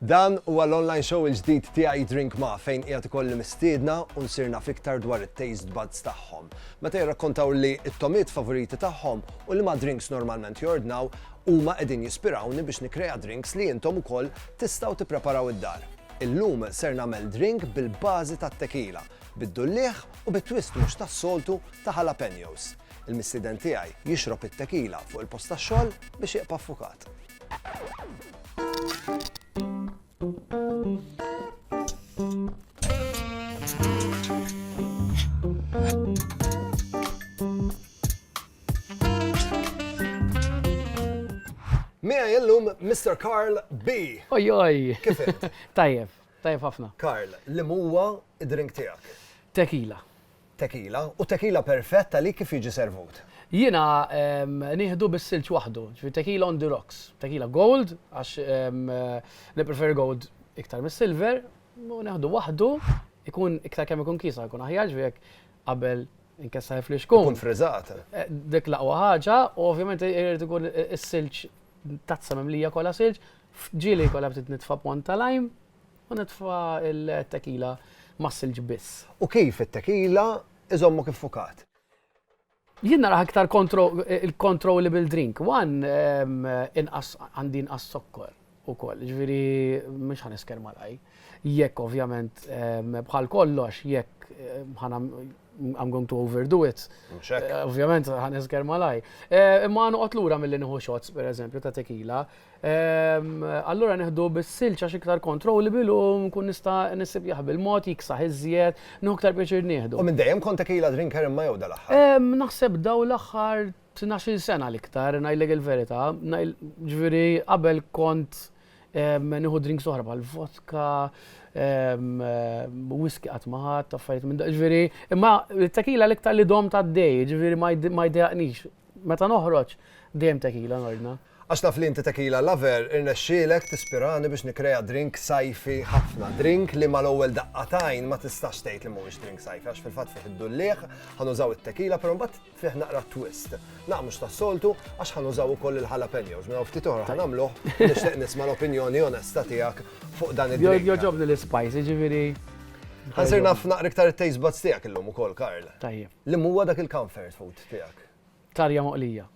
Dan huwa l-online show il-ġdid tiegħi Drink Ma fejn qiegħed ikolli mistiedna u nsirna fiktar dwar it-taste buds tagħhom. Meta jirrakkontaw li t-tomiet favoriti tagħhom u li ma drinks normalment jordnaw huma qegħdin jispirawni biex nikrea drinks li intom ukoll tistgħu tippreparaw id-dar. Illum ser nagħmel drink bil-bażi tat-tequila, bid-dulliegħ u bi twist mhux tas-soltu ta' jalapeños. Il-missieden tiegħi jixrob it-tequila fuq il-post tax-xogħol biex jibqa' ffukat. Miegħi illum Mr. Karl B. Ojoj! Kif Tajjeb, tajjeb ħafna. Karl, li huwa id-drink tiegħek? Tekila. Tekila, u tekila perfett li kif jiġi servut? Jiena nieħdu bis-silġ waħdu, ġifi tekila on the rocks, tekila gold, għax niprefer gold iktar mis-silver, u neħdu waħdu, ikun iktar kemm ikun kisa, ikun aħjar ġifi qabel Inkessar il-flixkun. Ikun friżat. Dik l-aqwa ħaġa, u ovvjament irid ikun is-silġ tazza mimlija kollha silġ, ġieli kollha bdiet nitfa' pont ta' lajm u nitfa' il-tekila mas-silġ biss. U kif it-tekila iżommok iffukat? Jien naraha iktar controllable drink. One, inqas għandi inqas zokkor. ukoll. Jiġifieri mhux ħa nisker mal-qaj. Jekk ovvjament bħal kollox, jekk ħana I'm going to overdo it. Ovvjament ħa nisker mal-qaj. Imma noqgħod lura milli nieħu shots pereżempju ta' tequila. Allura nieħdu bis-silġ għax iktar controllable u nkun nista' nisib jaħbi l-mod, jiksaħ iżjed, nieħu iktar pjaċir nieħdu. U minn dejjem kont tequila drinker imma jew dal-aħħar? Naħseb dawn l-aħħar Tnax-il sena l-iktar, ngħidlek il-verità, ġifieri qabel kont nieħu drinks oħra bħal vodka, whisky qatt ma ħadt, affarijiet minn ġifieri, imma t-tequila l-iktar li domt għaddej, ġifieri ma jdejjaqnix. Meta noħroġ dejjem tequila nordna. Għax naf li inti tequila lover, irnexxielek tispirani biex nikkrea drink sajfi ħafna. Drink li mal-ewwel daqqa t'għajn ma tistax tgħid li mhuwiex drink sajfi għax fil-fatt fih id-dullieħ, ħa nużaw it-tequila però mbagħad fih naqra twist. Naqra mhux tas-soltu għax ħa nużaw ukoll il-jalapeños. Minn hawn ftit oħra ħa nagħmluh u nixtieq nisma' l-opinjoni onesta tiegħek fuq dan id-drink. Jogħġobni l-ispajs, jiġifieri. Ħa nsir naf naqra iktar it-taste buds tiegħek illum ukoll, Karl. Tajjeb. Liema huwa dak il-comfort food tiegħek? Tarja moqlija.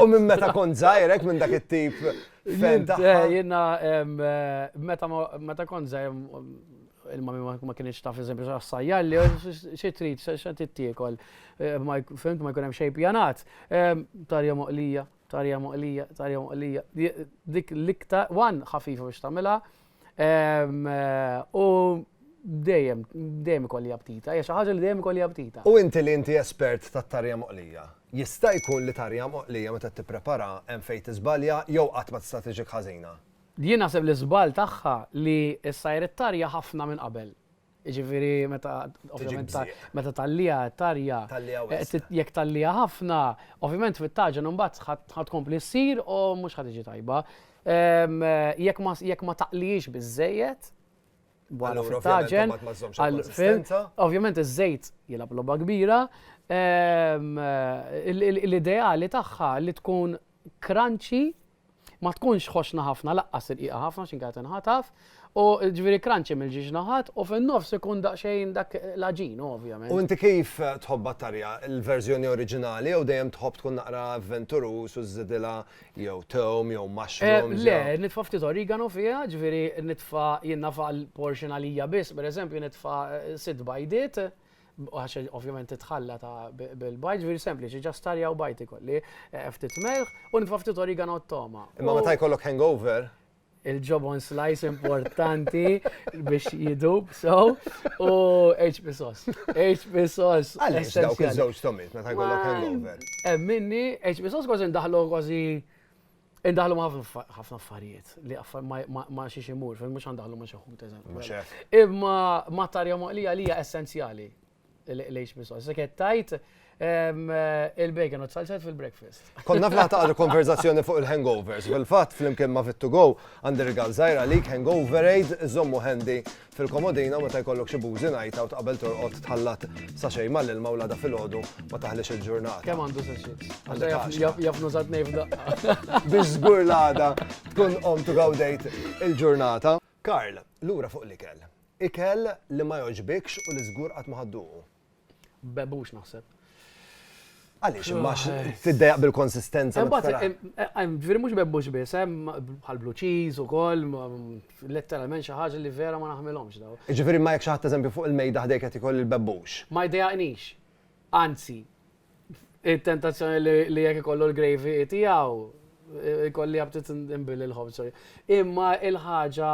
U minn meta kont żgħir hekk minn dak it-tip fen ta'. Eh, jiena meta meta kont żgħir il-mami ma kienx taf eżempju x'assajjar li xi trid x'qed tittiekol. Eh, fimt ma jkun hemm xejn pjanat. Tarja moqlija. Tarja moqlija, tarja moqlija. Dik l-iktar, wan ħafifa biex tamela. Ehm, u dejjem, dejjem ikolli aptita, hija xi ħaġa li dejjem ikolli aptita. U inti li inti espert ta' tarja moqlija, jista' jkun li tarja moqlija meta tipprepara hemm fejn tiżbalja jew qatt ma tista' tiġik ħażina? Jien naħseb li żball tagħha li ssajr it-tarja ħafna minn qabel. Jiġifieri meta ovvjament meta tgħalliha tarja. Tgħalliha wisq. Jekk tgħalliha ħafna, ovvjament fit-taġen imbagħad ħa tkompli ssir u mhux ħa tiġi tajba. Jekk ma taqlihiex biżżejjed, bħala fit-taġen, ovvjament iż-żejt jilgħab logħba kbira. L-ideali tagħha li tkun crunchy Ma tkunx ħoxna ħafna laqqas irqiqa ħafna x'in kienet inħataf u ġifieri kranċi mill-ġiex naħat u fin-nofs ikun daqsxejn dak l-għaġin ovvjament. U inti kif tħobbha t-tarja? Il-verżjoni oriġinali jew dejjem tħobb tkun naqra avventuruż u żżidilha jew tewm jew mushrooms? Le, nitfa' ftit origano fiha, ġifieri nitfa' jien nagħfaq il-portion għalija biss, pereżempju nitfa' sitt bajdiet, Għax ovvjament titħalla ta' bil-bajt, ġviri sempliċi, ġa starja u bajt ikolli, eh, ftit melħ, u nitfa' ftit origano t-toma. Imma meta jkollok hangover, il-ġobon slice importanti biex jidub, so, u HP sos. HP sos. Għalix, dawk iż-żewġ tomit, meta jkollok hangover. Emminni, HP sos kważi ndaħlu kważi Indaħlu ma' ħafna affarijiet li ma' xiex imur, fil mux għandaħlu ma' xaħut eżempju. Imma ma' tarja moqlija li hija essenzjali lejx biswa. Sekket tajt il-bacon u t-salzet fil-breakfast. Konna flaħta għal konverzazzjoni fuq il-hangovers. Fil-fat, fl-imkien ma' fit-to-go, għandi rigal zaħira għalik hangover aid, zommu handy Fil-komodino meta jkollok xi bużi ngħid hawn qabel torqod tħallat sachet mal-ilma u l-għada filgħodu ma taħlix il-ġurnata. Kemm għandu sachets? Għandek għaxra. Jaf nuża tnej f'daqqa. Biex żgur l-għada tkun qomt u gawdejt il-ġurnata. Karl, lura fuq l-ikel. Ikel li ma jogħġbikx u li żgur qatt ma ħadd duqu. Bebux naħseb. Għaliex, imma tiddejaq bil-konsistenza. Ġviri mux bebbux bis, bħal blue cheese u koll, letteralment xaħġa li vera ma naħmilomx daw. Ġviri ma jek xaħat eżempju fuq il-mejda ħdejk għati koll il-bebbux. Ma jdejaqnix. Anzi, il-tentazzjoni li jek kollu l-gravy tijaw, kolli għabtit imbil il-ħobż. Imma il-ħagġa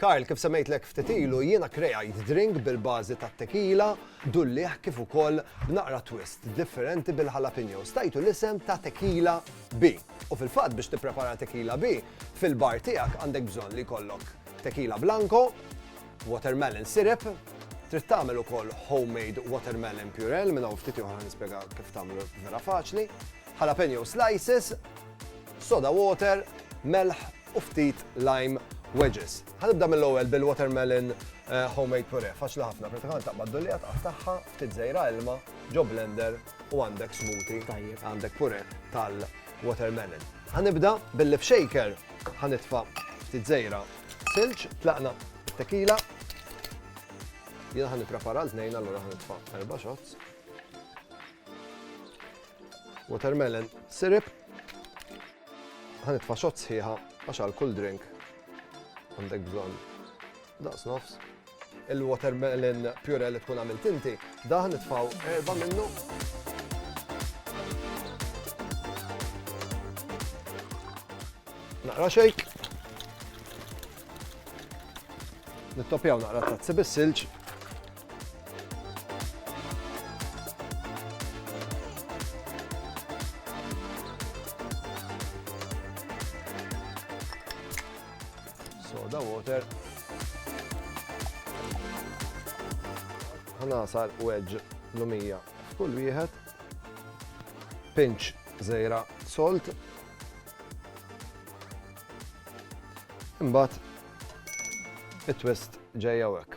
Karl, kif semmejtlek ftit ilu, jiena krejajt drink bil-bażi tat-tequila, dulliegħ kif ukoll b'naqra twist differenti bil-jalapeños. Tajtu l-isem ta' Tequila B. U fil-fatt biex tipprepara Tequila B, fil-bar tiegħek għandek bżonn li jkollok Tequila Blanco, watermelon syrup, trid tagħmel ukoll homemade watermelon purell, minn hawn ftit oħra nispjega kif tagħmlu vera faċli, jalapeño slices, soda water, melħ u ftit lime wedges. Ħanibda mill-ewwel bil-watermelon eh, homemade puree, faċli ħafna, pratikament taqbad dullija taqtaħħa, ftit żejra ilma, ġo blender u għandek smoothie, għandek puree tal-watermelon. Ħanibda billi f'shaker ħanitfa' ftit żejra silġ, tlaqna tequila, Jena ħan niprepara l-tnejn, allora ħan nitfa' erba' shots. Watermelon syrup. Ħa nitfa' xott sħiħa għax għal kull drink għandek bżonn daqs nofs. Il-watermelon pure li tkun għamilt inti, daħ nitfaw erba' minnu. Naqra xejk. Nittopjaw naqra tazzi bis-silġ Soda water. Ħanasar wedge lumija f'kull wieħed. Pinch zejra salt. Imbagħad it-twist ġejja hekk.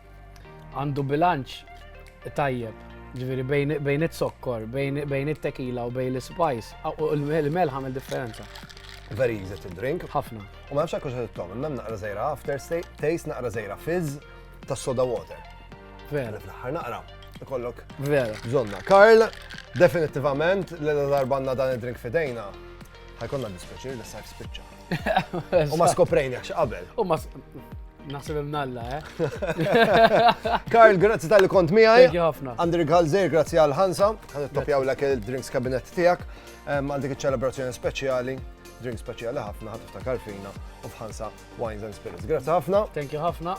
għandu bilanċ tajjeb. Ġviri, bejn it-sokkor, bejn it-tekila u bejn l-spice, u l-melħ għamil differenza. Very easy to drink. Ħafna. U ma nafx kuxa t-tom, imma naqra zejra after taste, naqra zejra fizz ta' soda water. Vera. Fl-ħar naqra, ikollok. Vera. Zonna. Karl, definitivament, l-darbanna dan id-drink fidejna, ħajkonna dispieċir li s-sajf spiċċa. U ma skoprejnekx qabel. U ma Naħseb imnalla, eh? Karl, grazzi tal-li kont miħaj. Thank you ħafna. Andri Galzer, grazzi għal ħansa. Għan it-topjaw l il-drinks kabinet tijak. Għal dik ċelebrazzjoni speċjali, drink speċjali ħafna, ħat ta' karfina u fħansa wines and spirits. Grazzi ħafna. Thank you ħafna.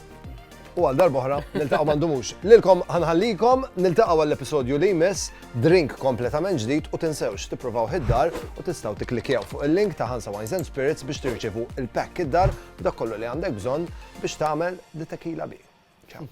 u għal darba oħra niltaqgħu m'għandumux. Lilkom ħanħallikom niltaqgħu għall-episodju li jmiss drink kompletament ġdid u tinsewx tippruvaw id-dar u tistgħu tikklikjaw fuq il-link ta' Hansa Wines and Spirits biex tirċevu il-pack id-dar u dak kollu li għandek bżonn biex tagħmel di tequila bi. Ciao.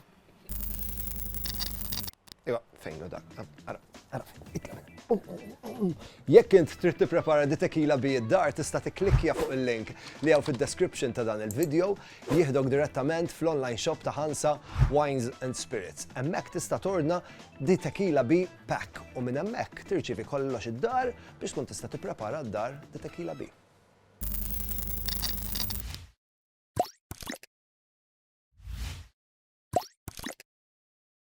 Iva. Fejn hu dak? Ara, ara fejn, itlaq minn hemm. Qum, qum, qum, qum. Jekk int trid tipprepara di tequila bi id-dar tista' tikklikkja fuq il-link li hawn fid-description ta' dan il-vidjow, jieħdok direttament fl-online shop ta' Hansa Wines and Spirits. Hemmhekk tista' tordna di tequila bi pack u minn hemmhekk tirċievi kollox id-dar biex tkun tista' tipprepara d-dar di tequila bi.